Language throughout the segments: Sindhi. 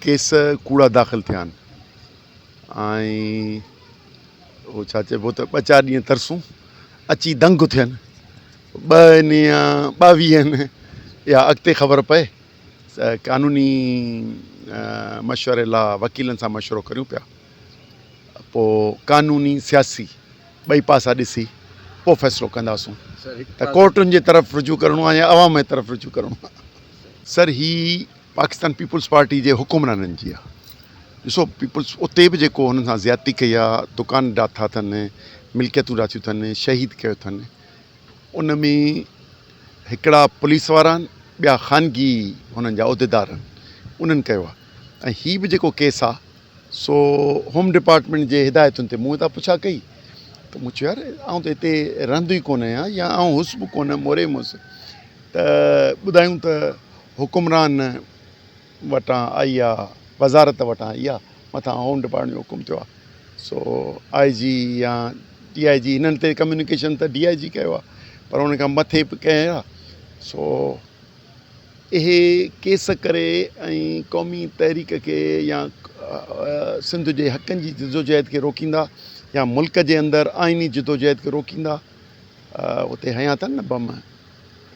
ڪيس ڪوڙا داخل ٿيا آهن ۽ ڇا چئبو ته ٻه چار ڏينهن ترسون اچي دنگ ٿين ٻن يا ٻاويهن يا اڳتي خبر پئي قانوني مشوري لا وڪيلن سان مشورو ڪريون پيا پوء قانوني سياسي ٻئي پاسا ڏسي پوء فيصلو ڪنداسون ته ڪورٽن جي طرف رجوع ڪرڻو آهي يا عوام جي طرف رجوع ڪرڻو آهي. سر هي پاڪستان پيپلز پارٽي جي حڪمرانن جي آ ڏسو پيپلز اتي به جيڪو هنن سان زيادتي ڪئي آ دڪان ڊاٿا اٿن ملڪيتون ڊاٿيون اٿن شهيد ڪيو اٿن ان ۾ هڪڙا پوليس وارا آهن ٻيا خانگي هنن جا عهديدار آهن انهن ڪيو آ ۽ هي به جيڪو ڪيس آ سو هوم ڊپارٽمينٽ جي هدايتن تي مون هتان پڇا ڪئي ته مون چيو يار آئون ته هتي رهندو ئي ڪونه آهيان يا آئون هوس به ڪونه موري مس ته ٻڌايون ته حڪمران وٽان آئي آ وزارت وٽان آئي آ مٿان هوم ڊپارٽمينٽ جو حڪم ٿيو آ سو آء جي يا ڊي آء جي هنن تي ڪميونيڪيشن ته ڊي آء جي ڪيو آ پر هن کان مٿي به ڪنهن آ سو اهي ڪيس ڪري ۽ قومي تحريڪ کي يا سنڌ جي حقن جي جدوجهد کي روڪيندا يا ملڪ جي اندر آئيني جدوجهد کي روڪيندا اتي هنيا اٿن نه بم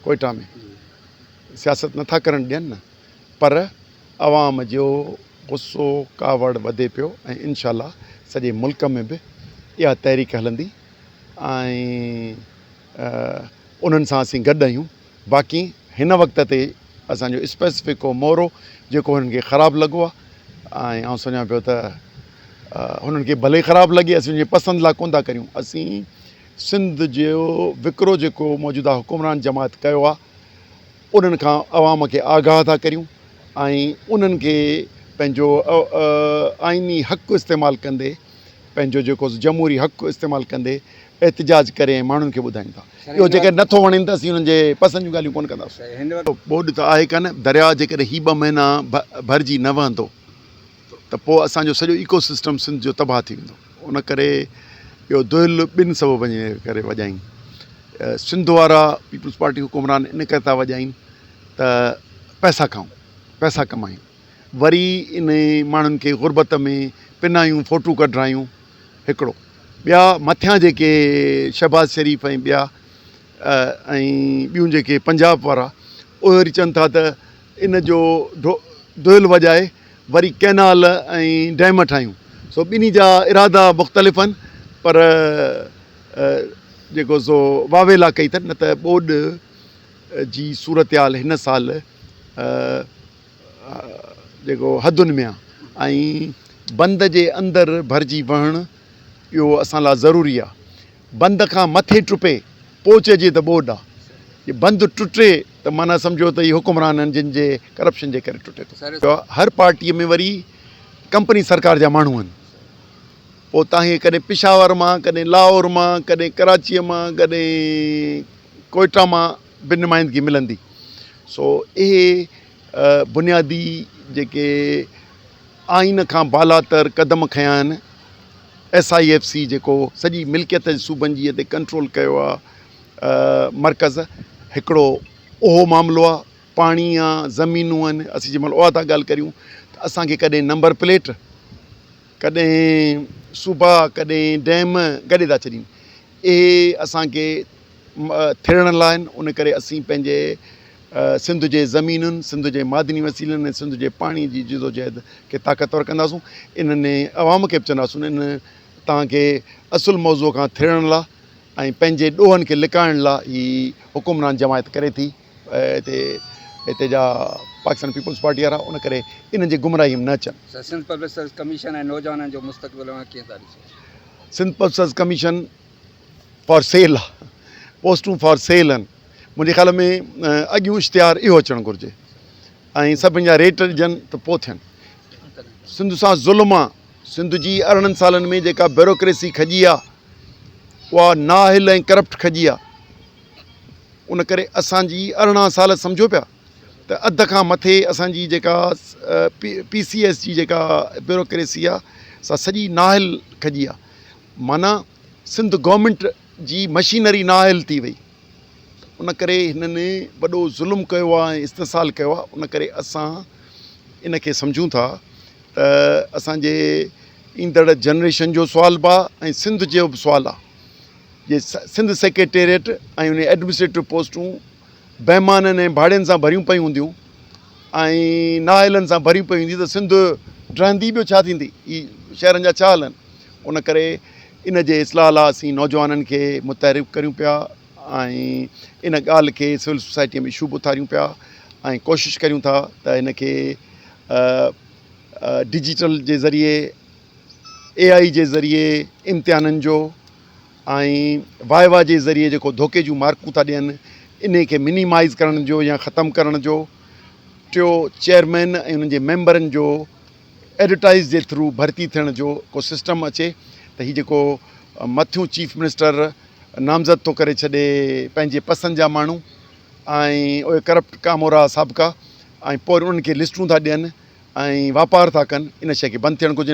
ڪوئٽا ۾ سياست نٿا ڪرڻ ڏين نه پر عوام جو غصو ڪاوڙ وڌي پيو ۽ انشاء الله سڄي ملڪ ۾ به اها تحريڪ هلندي ۽ انهن سان اسين گڏ آهيون باقي هن وقت تي اسان جو اسپيسفڪ ڪو مورو جيڪو هنن کي خراب لڳو آهي ۽ آئون سمجهان پيو ته هنن کي ڀلي خراب لڳي اسين جي پسند لا ڪون ٿا ڪريون اسين سنڌ جو وڪرو جيڪو موجوده حڪمران جماعت ڪيو آهي انهن کان عوام کي آگاهه ٿا ڪريون ۽ انهن کي پنهنجو آئيني حق استعمال ڪندي پنهنجو جيڪو جمهوري حق استعمال ڪندي احتجاج ڪري ۽ ماڻهن کي ٻڌائين ٿا اهو جيڪڏهن نه ٿو وڻين ته اسين انهن جي پسند جون ڳالهيون ڪونه ڪنداسين. ٻوڏ ته آهي ڪانه، درياء جيڪڏهن هي ٻه مهينا ڀرجي نه وهندو ته پوء اسان جو سڄو ايڪو سسٽم سنڌ جو تباهه ٿي ويندو ان ڪري اهو دهل ٻن سببن جي ڪري وڄائين سنڌ وارا پيپلز پارٽي حڪمران ان ڪري ٿا وڄائين ته پئسا کائون پئسا ڪمائين. وري انهن ماڻهن کي غربت ۾ پنايون فوٽو ڪڍرايون هڪڙو ٻيا مٿيان جيڪي شهباز شريف ۽ ٻيا ۽ ٻيون جيڪي پنجاب وارا اهي وري چون ٿا ته ان جو دهل وڄائي وري ڪئنال ۽ ڊيم ٺاهيون سو ٻنهي جا ارادا مختلف آهن پر جيڪو سو واويلا ڪئي اٿن نه ته ٻوڏ جي صورتحال هن سال جيڪو حدن ۾ آ ۽ بند جي اندر ڀرجي وهڻ اهو اسان لا ضروري آ بند کان مٿي ٽپي پوء چئجي ته ٻوڏ آ جي بند ٽٽي ته معنيٰ سمجهو ته هي حڪمرانن جن جي ڪرپشن جي ڪري ٽٽي ٿو هر پارٽي ۾ وري ڪمپني سرڪار جا ماڻهو آهن پوء تان هي ڪڏهن پشاور مان ڪڏهن لاهور مان ڪڏهن ڪراچي مان ڪڏهن ڪوئيٽا مان به نمائندگي ملندي سو اهي بنيادي جيڪي آئين کان بالاتر قدم کنيا آهن ايس آئي ايف سي جيڪو سڄي ملڪيت صوبن جي تي ڪنٽرول ڪيو آهي مرڪز هڪڙو اهو معاملو آهي پاڻي آ زمينون آهن اسين جنهن مهل اها ٿا ڳالهه ڪريون ته اسانکي ڪڏهن نمبر پليٽ ڪڏهن صوبا ڪڏهن ڊيم گڏي ٿا ڇڏين اهي اسانکي ٿيڙڻ لاء آهن ان ڪري اسين پنهنجي سنڌ جي زمينن سنڌ جي معدني وسيلن ۽ سنڌ جي پاڻي جي جدوجهد کي طاقتور ڪنداسون انهن عوام کي به چونداسون ان توهان کي اصل موضوع کان ٿيڙڻ لاء ۽ پنهنجي ڏوهن کي لڪائڻ لاء هي حڪمران جماعت ڪري ٿي هتي هتي جا پاڪستان پيپلز پارٽي وارا ان ڪري انهن جي گمراهي ۾ نه اچن سنڌ پبلڪ سروس ڪميشن ۽ نوجوانن جو مستقبل اوهان ڪيئن ٿا ڏسو Sindh public service commission for sale آ پوسٽون فار سيل ان منهنجي خيال ۾ اڳيون اشتهار اهو اچڻ گهرجي ۽ سڀني جا ريٽ ڏجن ته پوء ٿين سنڌ سان ظلم آ سنڌ جي ارڙهن سالن ۾ جيڪا بيوروڪريسي کڄي آ اها نااهل ۽ ڪرپٽ کڄي آ ان ڪري اسان جي ارڙهن سال سمجهو پيا ته اڌ کان مٿي اسان جي جيڪا پي سي ايس جي جيڪا بيوروڪريسي آ سا سڄي نااهل کڄي آ معنيٰ سنڌ گورنمينٽ جي مشينري نااهل ٿي وئي ان ڪري هنن وڏو ظلم ڪيو آهي ۽ استحصال ڪيو آهي ان ڪري اسان ان کي سمجهون ٿا ته اسانجي ايندڙ جنريشن جو سوال به آهي ۽ سنڌ جو به سوال آهي جي سنڌ سيڪريٽريٽ ۽ ان جي ايڊمنسٽريٽو پوسٽون بيمانن ۽ ڀاڙين سان ڀريون پيون هونديون ۽ نااهلن سان ڀريون پيون هونديون ته سنڌ ڊهندي ٻيو ڇا ٿيندي؟ هي شهرن جا ڇا هلن؟ ان ڪري ان جي اصلاح لاء اسين نوجوانن کي متحرڪ ڪريون پيا ۽ ان ڳالهه کي سول سوسائٽيء ۾ شوڀ اٿاريون پيا ۽ ڪوشش ڪريون ٿا ته ان کي ڊجيٽل جي ذريعي اي آئي جي ذريعي امتحانن جو ۽ وائوا جي ذريعي جيڪو ڌوڪي جون مارڪون ٿا ڏين انهي کي منيمائز ڪرڻ جو يا ختم ڪرڻ جو ٽيو چيئرمين ۽ انهن جي ميمبرن جو ايڊورٽائز جي ٿرو ڀرتي ٿيڻ جو ڪو سسٽم اچي ته هي جيڪو مٿيون چيف منسٽر نامزد ٿو ڪري ڇڏي پنهنجي پسند جا ماڻهو ۽ اهي ڪرپٽ ڪامورا سابقا ۽ پوء انهن کي لسٽون ٿا ڏين ۽ واپار ٿا ڪن ان شيء کي بند ٿيڻ گهرجي.